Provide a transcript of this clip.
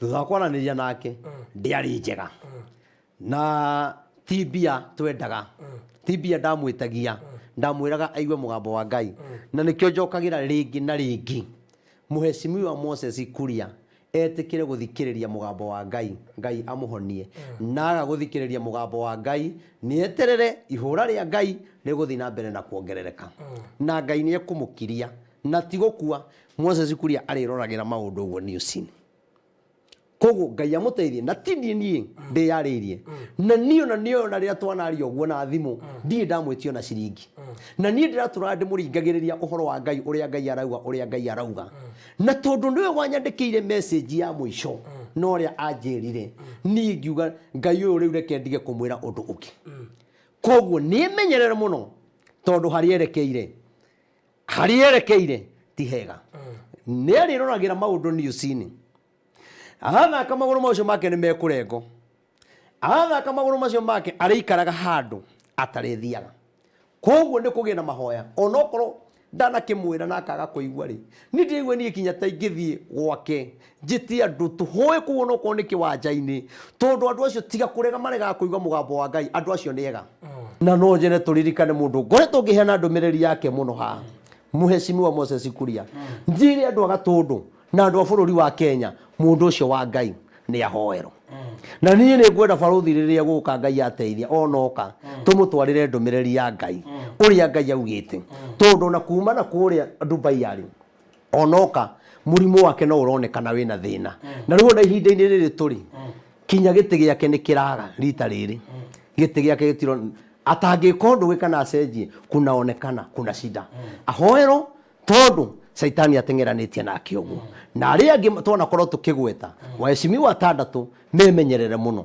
thutha wa kwaranĩria nake ndĩarĩ njega na ti mbia twendaga ti mbia ndamwĩtagia ndamwĩraga aigue mũgambo wa ngai na nĩkĩo njokagĩra rĩngĩ na rĩngĩ mũhecimiwa moses kuria etĩkĩre gũthikĩrĩria mũgambo wa ngai ngai amũhonie naga gũthikĩrĩria mũgambo wa ngai nĩeterere ihũra rĩa ngai rĩgũthiĩ na mbere na kuongerereka na ngai nĩekũmũkiria Na ti gũkua. Moses Kuria arĩroragĩra maũndũ ũguo newsini. Koguo Ngai amũteithie na ti niĩ niĩ ndĩyarĩirie. Na niĩ ona niĩ ona rĩrĩa twanaria ũguo na thimũ ndirĩ ndamwĩtia ona ciringi. Na niĩ ndĩratũraga ndĩmũringagĩrĩria ũhoro wa Ngai ũrĩa Ngai arauga ũrĩa Ngai arauga. Na tondũ nĩwe wanyandĩkĩire message ya mũico na ũrĩa anjĩrire niĩ ngiuga Ngai ũyũ rĩu reke ndige kũmwĩra ũndũ ũngĩ. Koguo nĩmenyerere mũno tondũ harĩa erekeire harĩa erekeire ti hega nĩ arĩroragĩra maũndũ niucinĩ arathaka magũrũ macio make nĩ mekũrengo arathaka magũrũ macio make arĩikaraga handũ atarĩthiaga koguo nĩ kũgĩa na mahoya onokorwo ndanakĩmwĩra na akaga kũigua rĩ nĩ ndĩraigua niĩ kinya ta ingĩthiĩ gwake Njĩtia ndũtũhũĩ kũu ona okorwo nĩ kĩwanja-inĩ tondũ andũ acio tiga kũrega maregaga kũigua mũgambo wa Ngai andũ acio nĩ ega. Na no nyende tũririkane mũndũ ngoretwo ngĩheana ndũmĩrĩri yake mũno haha, Mheshimiwa Moses Kuria. Njĩre andũ a Gatũndũ na andũ a bũrũri wa Kenya mũndũ ũcio wa Ngai nĩ ahoero. Na niĩ nĩ ngwenda barũthi rĩrĩa egũka Ngai ateithia ona oka tũmũtwarĩre ndũmĩrĩri ya Ngai ũrĩa Ngai augĩte tondũ ona kuma na kũrĩa Dubai arĩ onoka mũrimũ wake no ũronekana wĩna thĩna mm. na rĩu ona ihinda-inĩ rĩrĩ tũrĩ mm. kinya gĩtĩ gĩake nĩ kĩraga rita rĩrĩ mm. gĩtĩ gĩake gĩtiro atangĩka ũndũ gwĩ kana acenjie kunaonekana kuna shida ahoerwo tondũ caitani ateng'eranĩtie nake ũguo na arĩa angĩ twanakorwo tũkĩgweta waheshimiwa atandatũ memenyerere mũno